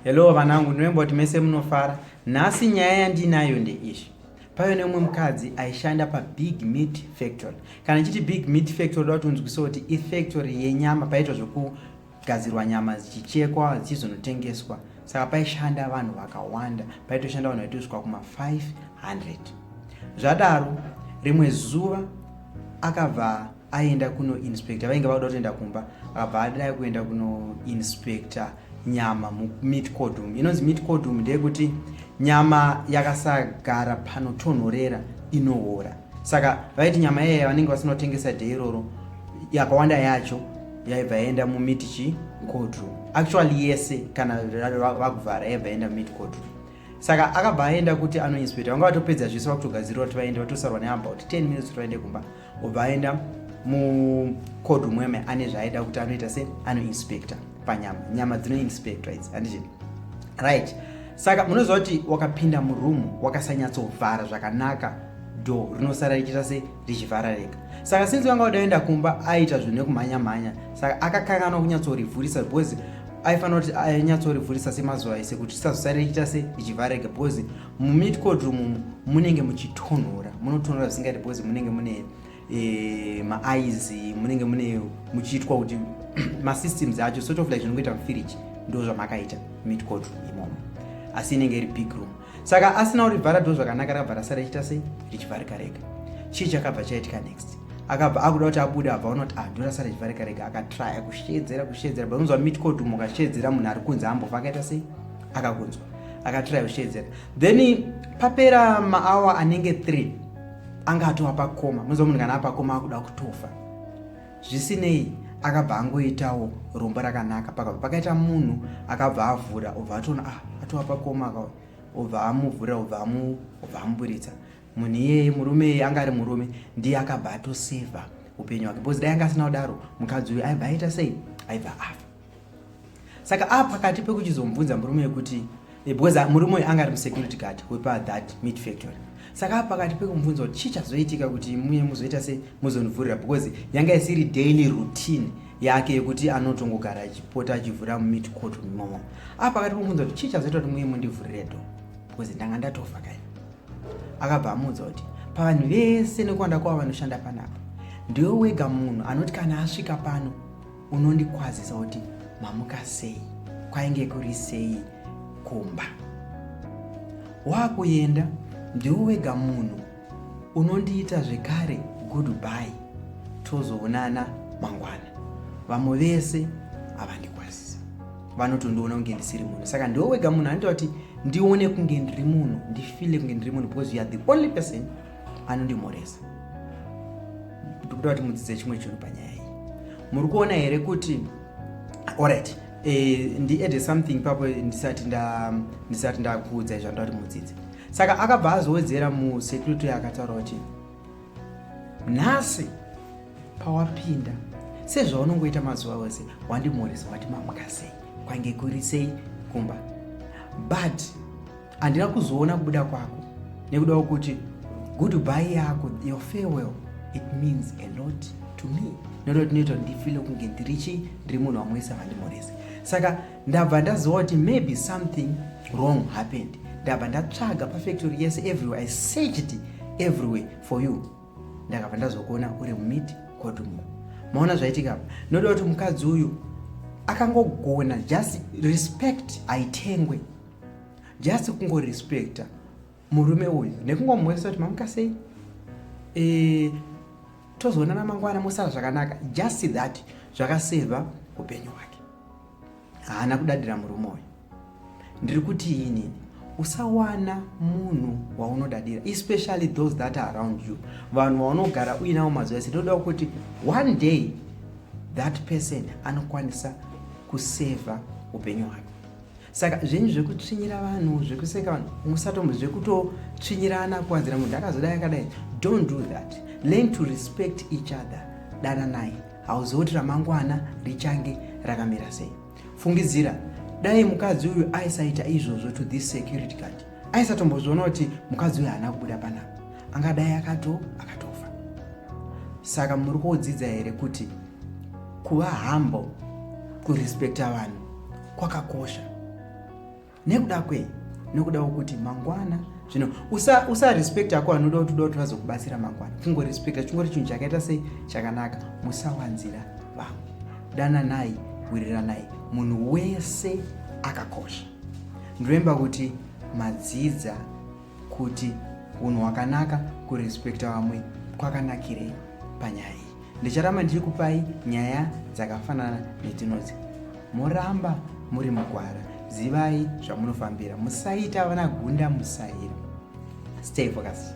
Hello vanangu, ndinomba kuti mese munofara. Nhasi nyaya yandinayo ndeizvi. Pave neumwe mukadzi aishanda pabig meat factory. Kana chiti big meat factory ndoda kuti unzwise kuti ifactory yenyama paitwa zvekugadzirwa nyama dzichichekwa dzichizonotengeswa. Saka paishanda vanhu vakawanda, paitoshanda vanhu vaitosvika kuma 500. Zvadaro rimwe zuva akabva aienda kuno inspector vainge vakuda kutoenda kumba akabva adai kuenda kuno inspector nyama mumit codum inonzi mit codum ndeyekuti nyama yakasagara panotonhorera inoora saka vaiti nyama iyaya vanenge vasinotengesa de iroro yakawanda yacho yaibva yaenda mumit chi codum actually yese kana vakuvhara yaibva yaenda mumit codum saka akabva aenda kuti anoinspector vanga vatopedza zvese vakutogadzirira kuti vaende vatosarwa neabout 10 minutes kuti vaende kumba obva aenda mucold mweme ane zvaaida kuti anoita se anoinspector panyama nyama dzinoinspector idzi handizve right saka munoziva kuti wakapinda muroom wakasanyatsovhara zvakanaka do rinosara richiita se richivharareka saka sinzi vanga vadaenda kumba aiita zvinhu nekumhanya mhanya saka akakanganwa kunyatsorivhurisa because aifanira kuti ainyatsorivhurisa semazuva ese kuti risazosara richiita se richivharareka because mumit cold room umu munenge muchitonhora munotonhora zvisingaite because munenge mune e, maaizi munenge mune muchiitwa kuti masystems acho sort of like zvinongoita mufiriji ndo zvamakaita mit cold room imomo asi inenge iri big room saka asina kurivhara do zvakanaka rakabva rasara ichita sei richivharika rega chii chakabva chaitika next akabva akuda kuti abude abva unoti ah do rasara richivharika rega akatraya kusheedzera kusheedzera but unonzwa mitcodum ukasheedzera munhu ari kunze ambofa akaita sei akakunzwa akatry kushedzera then papera maawa anenge 3 anga atova pakoma muziva munhu kana apakoma akuda kutofa zvisinei akabva angoitawo rombo rakanaka pakabva pakaita munhu akabva avhura obva atoona ah atova pakoma aka obva amuvhura obva amuburitsa munhu iyeye murume iyeye anga ari murume ndiye akabva atosevha upenyu hwake because dai anga asina kudaro mukadzi uyu aibva aita sei aibva afa saka a pakati pekuchizomubvunza murume yekuti eh, because ah, murume uyu anga ari musecurity guard wepa that meat factory saka a pakati pekumubvunza kuti chii chazoitika kuti muye muzoita se muzonivhurira because yanga isiri daily routine yake yekuti anotongogara achipota achivhura mumit court mumomo a pakati pekumuudza kuti chii chazoita kuti muye mundivhurire do because ndanga ndatofa kai akabva amuudza kuti pavanhu vese nekuwanda kwavo vanoshanda panapa ndiwe wega munhu anoti kana asvika pano unondikwazisa kuti mamuka sei kwainge kuri sei kumba wakuenda ndiwo wega munhu unondiita zvekare goodby tozoonana mangwana vamwe vese havandikwazisa vanotondiona kunge ndisiri munhu saka ndiwo wega munhu anoita kuti ndione kunge ndiri munhu ndifile kunge ndiri munhu because you are the only person anondimhoresa ndikuda kuti mudzidze chimwe chinhu panyaya iyi muri kuona here kuti orit eh, ndiede something papo ndisati ndisati ndakuudzai zvandoda kuti mudzidze saka akabva azowedzera musecurity akataura kuti nhasi pawapinda sezvaunongoita mazuva ose wandimhoresa wati mamukasei kwange kuri sei kumba but Handina kuzoona kubuda kwako nekuda kwekuti goodbye yako your farewell it means a lot to me nekuda kuti ndinoita kuti ndifile kunge ndiri chii ndiri munhu wamwe wese avandimhorese saka ndabva ndaziva kuti maybe something wrong happened ndabva ndatsvaga pafactory yese everywhere i searched everywhere for you ndakabva ndazokuona uri mumiti kotumo maona zvaitika noda kuti mukadzi uyu akangogona just respect aitengwe just kungorespecta murume uyu nekungomuonesa kuti mamuka sei e, tozoonana mangwana mosara zvakanaka just that zvakaseva upenyu hwake haana kudadira murume uyu ndiri kuti inini usawana munhu waunodadira especially those that are around you vanhu vaunogara uinawo mazuva ese ndoda kuti one day that person anokwanisa kuseva upenyu hwake saka zvenyu zvekutsvinyira vanhu zvekuseka vanhu musatombo zvekutotsvinyirana kuwanzira munhu akazodai akadai don't do that learn to respect each other dananai hauzoti ramangwana richange rakamira sei fungidzira dai mukadzi uyu aisaita izvozvo to this security card aisatombozviona kuti mukadzi uyu haana kubuda panapa angadai akato akatofa saka muri kuodzidza here kuti kuva hambo kurespekta vanhu kwakakosha nekuda kwei nokuda kwokuti mangwana zvino usarespect usa ako anoda kuti uda kuti vazokubatsira mangwana kungorespecta chingori chinhu chakaita sei chakanaka musawanzira vamwe dananai wiriranai munhu wese akakosha ndoremba kuti madzidza kuti unhu hwakanaka kurespecta vamwe kwakanakirei panyaya iyi Ndicharamba ndichikupai nyaya dzakafanana nedzinodzi. Moramba muri mugwara, zivai zvamunofambira, musaita vana gunda musaira. Stay focused.